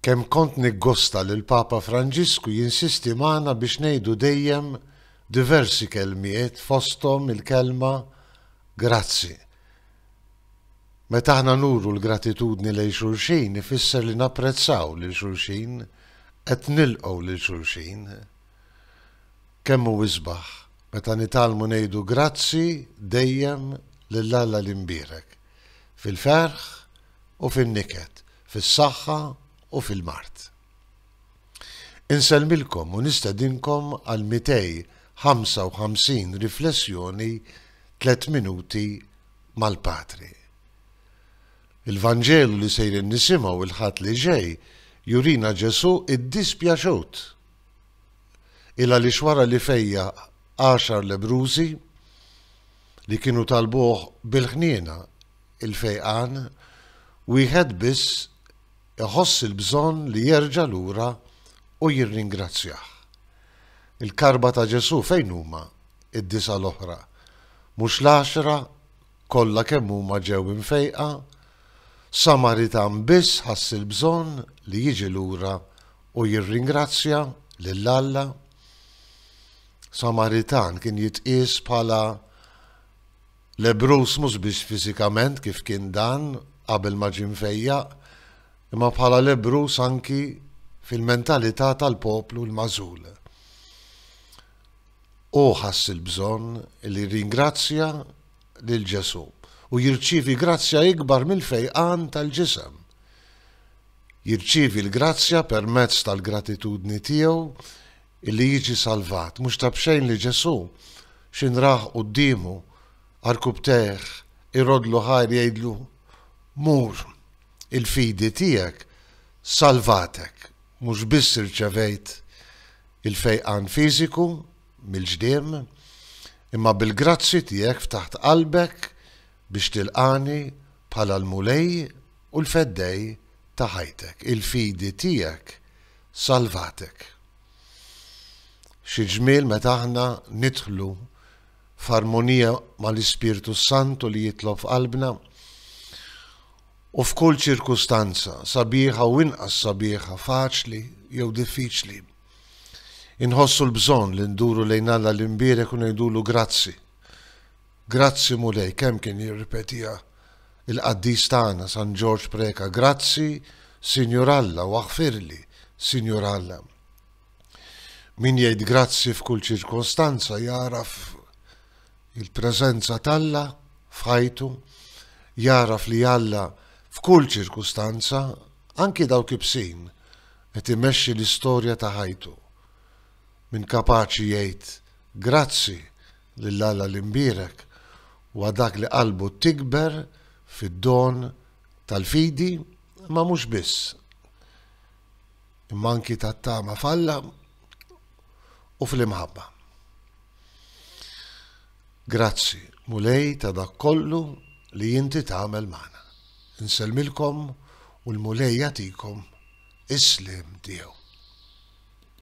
Kemm kont niggosta li l-Papa Franġisku jinsisti magħna biex ngħidu dejjem diversi kelmiet fosthom il-kelma grazzi. Meta aħna nuru l-gratitudni lejn xulxin ifisser li napprezzaw lil xulxin, qed nilqgħu lil xulxin. Kemm hu isbaħ meta nitgħallmu ngħidu grazzi dejjem lil Alla l-Imbierek. fil-ferħ u fin-niket, fis-saħħa u fil-mard. Insellmilkom u nistedinkom għal 255 riflessjoni tliet minuti mal-Patri. Il-Vanġelu li sejrin nisimgħu il-Ħadd li ġej jurina Ġesù iddispjaċut. Il għaliex wara li fejja għaxar lebrużi, li kienu talbuh bil-ħniena, il-fejqan, wieħed biss iħoss il-bżonn li jerġa' lura u jirringrazzjah. Il-karba ta' Ġesù fejn huma d-disa' l-oħra? Mhux l-għaxra kollha kemm huma ġew imfejqa? Samaritan biss ħass il-bżonn li jiġi lura u jirringrazzja lil Alla? Samaritan kien jitqies bħala lebruż mhux biss fiżikament kif kien dan qabel ma ġie mfejjaq, imma bħala lebruż anki fil-mentalità tal-poplu l-magħżul. Hu ħass il-bżonn li jirringrazzja lil Ġesù u jirċievi grazzja ikbar mill-fejqan tal-ġisem. Jirċievi l-grazzja permezz tal-gratitudni tiegħu li jiġi salvat. Mhux ta' b'xejn li Ġesù, x'in rah quddiemu għarkupptejh iroddlu ħajr jgħidlu, Mur, il-fidi tiegħek salvatek. Mhux biss irċevejt il-fejqan fiżiku mill-ġdiem, imma bil-grazzji tiegħek ftaħt qalbek biex tilqagħni bħala l-Mulej u l-Feddej ta' ħajtek. Il-fidi tiegħek salvatek. Xi ġmiel meta aħna nidħlu f'armonija mal-Ispirtu s-Santu li jitlob f'qalbna u f'kull ċirkustanza sabiħa u inqas sabiħa, faċli jew diffiċli. Inħossu l-bżonn li nduru lejn Alla l-imbierek u ngħidulu grazzi Grazzi Mulej, kemm kien jirripetiha il-qaddis tagħna San Ġorġ Preca, Grazzi, Sinjur Alla, u aħfirli, Sinjur Alla. Min jgħid grazzi f'kull ċirkostanza jagħraf il-preżenza t'Alla f'ħajtu, jagħraf li Alla f'kull ċirkustanza, anki dawk ibsin, qed imexxi l-istorja ta' ħajtu. Min kapaċi jgħid grazzi lil Alla l-Imbierek huwa dak li qalbu tikber fid-don tal-fidi, imma mhux biss, imma anki tat-tama f'Alla u fl-imħabba. Grazzi, Mulej ta' dak kollu li inti tagħmel magħna. Insellmilkom u l-Mulej jagħtikom is-sliem tiegħu.